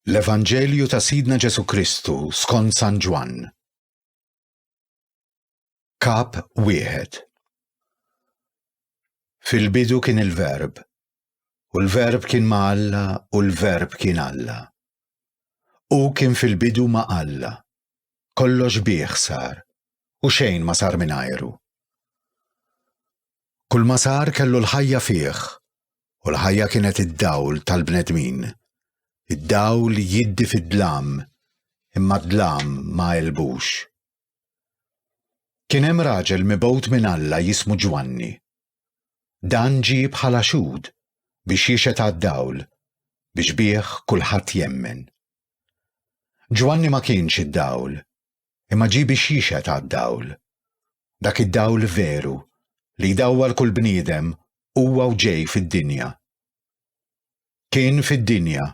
L-Evanġelju ta' Sidna Ġesu Kristu skont San Ġwann. Kap wieħed. Fil-bidu kien il-Verb, u l-Verb kien ma' Alla u l-Verb kien Alla. U kien fil-bidu ma' Alla, Kollox bih sar u xejn ma sar mingħajru. Kull ma sar kellu l-ħajja fih u l-ħajja kienet id-dawl tal-bnedmin. Id-dawl jiddi fid-dlam imma d-dlam ma elbux. Kien hemm raġel mibgħut minn Alla jismu Ġwanni. Dan ġie bħala xhud biex jixhed għad-dawl biex bih kulħadd jemmen. Ġwanni ma kienx id-dawl, imma ġie biex jixhed għad-dawl. Dak id-dawl veru, li jdawwal kull bniedem, huwa u ġej fid-dinja. Kien fid-dinja,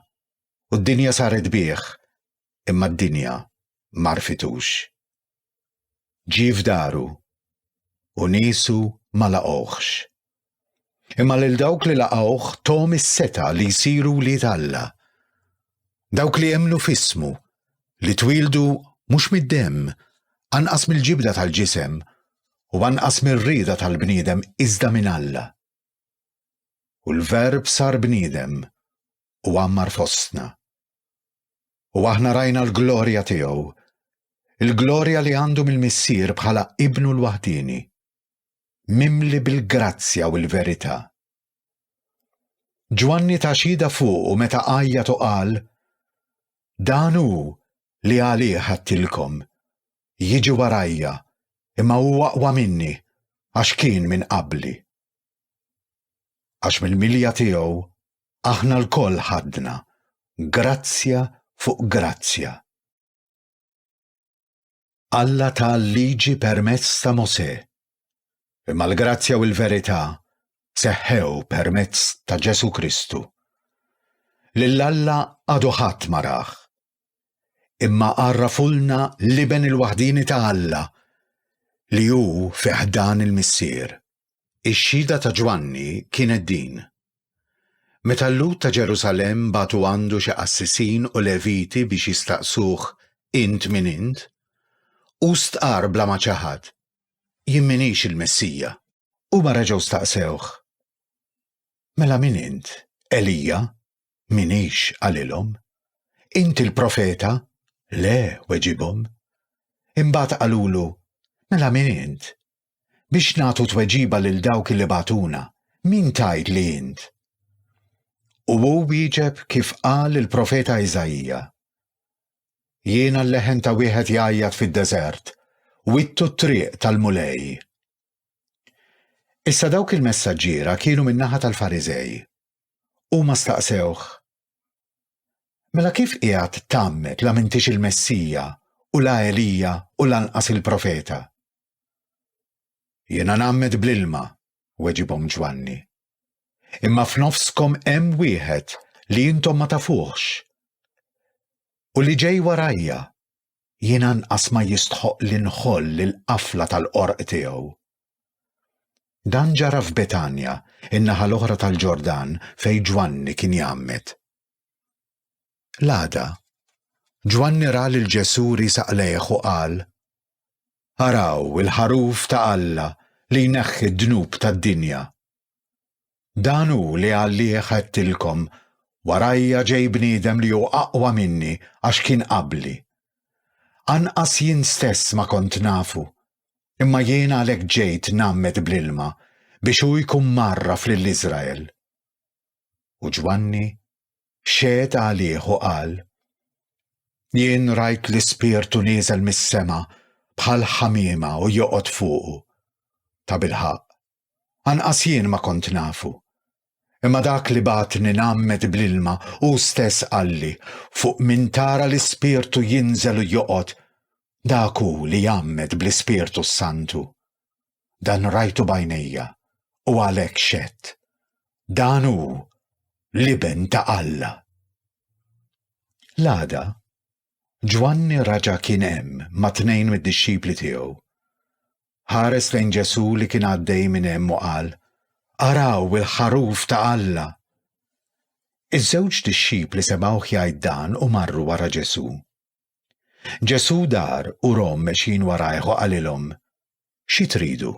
u d-dinja saret bih, imma d-dinja m'għarfitux. Ġie f'daru u niesu ma laqgħuhx. Imma lil dawk li laqgħuh thom is-setgħa li jsiru wlied Alla. Dawk li emmnu f'ismu, li twieldu mhux mid-demm, anqas mill-ġibda tal-ġisem, u anqas mir-rieda tal-bniedem iżda minn Alla. U l-Verb sar bniedem u għammar fostna. u aħna rajna l-glorja tiegħu, il-glorja li għandu mill-Missier bħala Ibnu l-Waħdieni, mimli bil-grazzja u l-verità. Ġwanni ta' xhieda fuqu meta għajjat u qal, Dan hu li għalih ħadtilkom, jiġi warajja, imma hu aqwa minni għax kien minn qabli. Għax mill-milja tiegħu aħna lkoll ħadna grazzja fuq grazzja. Alla ta l-Liġi permezz ta' Mosè, imma l-grazzja u l-verità seħħew permezz ta' Ġesù Kristu. Lil Alla għadu ħadd ma rah, imma għarrafulna l-Iben il-waħdieni ta' Alla li hu fi ħdan il-Missier. Ix-xhieda ta' Ġwanni kienet din, Meta l-Lhud ta' Ġerusalemm bagħtu għandu xi qassisin u Leviti biex jistaqsuh, Int min int? hu stqarr bla ma ċaħad, Jien m'iniex il-Messija. Huma reġgħu staqsewh, Mela min int? Elija? Minix qalilhom. Inti l-profeta? Le, weġibhom. Imbagħad qalulu, Mela min int? Biex nagħtu tweġiba lil dawk li bagħtuna, min tgħid li int? U hu wieġeb kif qal il-profeta Iżaija. Jiena l-leħen ta' wieħed jgħajjat fid-deżert, wittu t-triq tal-Mulej. Issa dawk il-messaġġiera kienu min-naħa tal-Fariżej. Huma staqsewh, Mela kif qiegħed tgħammed la m'intix il-Messija u la Elija u lanqas il-Profeta? Jiena ngħammed bl-ilma, weġibhom Ġwanni. Imma f'nofskom hemm wieħed li intom ma tafuhx. U li ġej warajja, jiena nqas ma jistħoq li nħoll il-qafla tal-qorq tiegħu. Dan ġara f'Betanja, in-naħa l-oħra tal-Ġordan fejn Ġwanni kien jgħammed. L-għada, Ġwanni ra lil Ġesù risaq lejh u qal, Araw il-ħaruf ta' Alla li jneħħi d-dnub tad-dinja. Dan hu li għalih għedtilkom, 'Warajja ġej bniedem li hu aqwa minni għax kien qabli. Anqas jien stess ma kont nafu, imma jien għalhekk ġejt ngħammed bl-ilma biex hu jkun mgħarraf lil Iżrael. U Ġwanni xehed għalih u qal, Jien rajt l-Ispirtu nieżel mis-sema bħal ħamiema u joqgħod fuqu. Ta' bilħaqq, Anqas jien ma kont nafu. Imma dak li bagħatni ngħammed bl-ilma hu stess qalli, 'Fuq min tara l-Ispirtu jinżel u joqgħod, dak hu li jgħammed bl-Ispirtu s-Santu. Dan rajtu b'għajnejja u għalhekk xedt. Dan hu l-Iben ta' Alla. L-għada, Ġwanni raġa' kien hemm ma' tnejn mid-dixxipli tiegħu. Ħares lejn Ġesù li kien għaddej minn hemm u qal, Araw il-Ħaruf ta' Alla! Iż-żewġ dixxipli semgħuh jgħid dan u marru wara Ġesù. Ġesù dar u rom mexjin warajh u qalilhom, Xi tridu?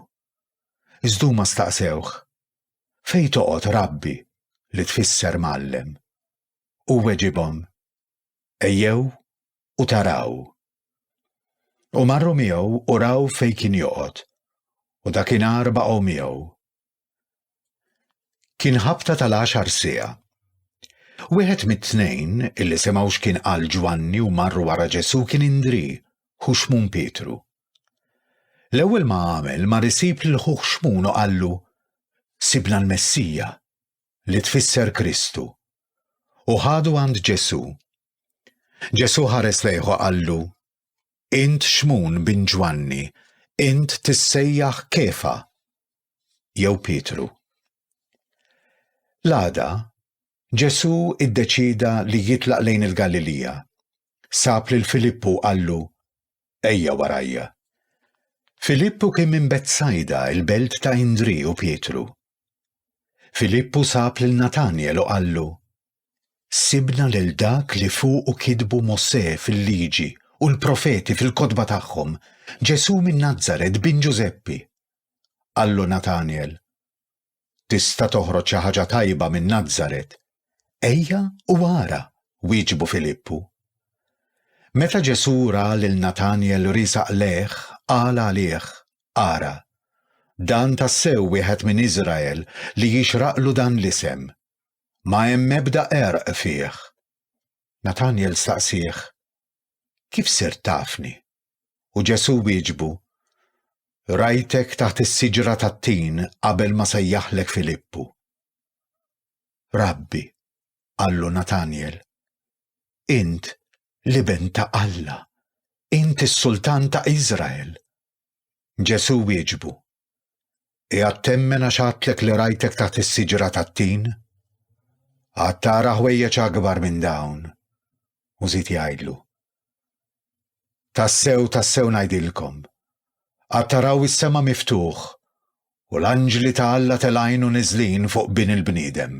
Iżda huma staqsewh, Fejn toqgħod, Rabbi, li tfisser Mgħallem? Hu weġibhom, Ejjew u taraw. U marru miegħu u raw fejn kien joqgħod, u dakinhar baqgħu miegħu. Kien ħabta tal-għaxar siegħa. Wieħed mit-tnejn illi semgħu x'kien qal Ġwanni u marru wara Ġesu kien indri, ħu xmun Pietru. L-ewwel ma għamel ma risib lil ħuh xmun u qallu, Sibna l-Messija, li tfisser Kristu, u ħadu għand Ġesù. Ġesù ħares lejħu qallu, Int xmun bin Ġwanni, int tissejjaħ kefa, jew Pietru. L-għada, Ġesù iddeċida li jitlaq lejn il-Galilija. Sab lil Filippu qallu, Ejja warajja. Filippu kien minn Betsajda, il-belt ta' Indri u Pietru. Filippu sab lil Natanjel u qallu, Sibna lil dak li fuqu kitbu Mosè fil-Liġi u l-profeti fil-kotba tagħhom, Ġesù minn Nazaret, bin Ġużeppi. Qallu Natanjel, Tista' toħroġ xi ħaġa tajba minn Nazaret? Ejja u ara, wieġbu Filippu. Meta Ġesù ra lil Natanjel riesaq lejh, qal għalih, Ara, dan tassew wieħed minn Iżrael li jixraqlu dan l-isem. Ma hemm ebda qerq fih. Natanjel staqsieh, Kif sirt tafni? U Ġesù wieġbu, Rajtek taħt is-siġra tat-tin qabel ma sejjaħlek Filippu. Rabbi, qallu Natanjel, int l-Iben ta' Alla, int is-Sultan ta' Iżrael. Ġesù wieġbu, Qiegħed temmen għax għadtlek li rajtek taħt is-siġra tat-tin? Għad tara ħwejjeġ akbar minn dawn. U żied jgħidlu, Tassew, tassew ngħidilkom, għad taraw is-sema miftuħ u l-anġli ta' Alla telgħin u niżlin fuq Bin il-bniedem.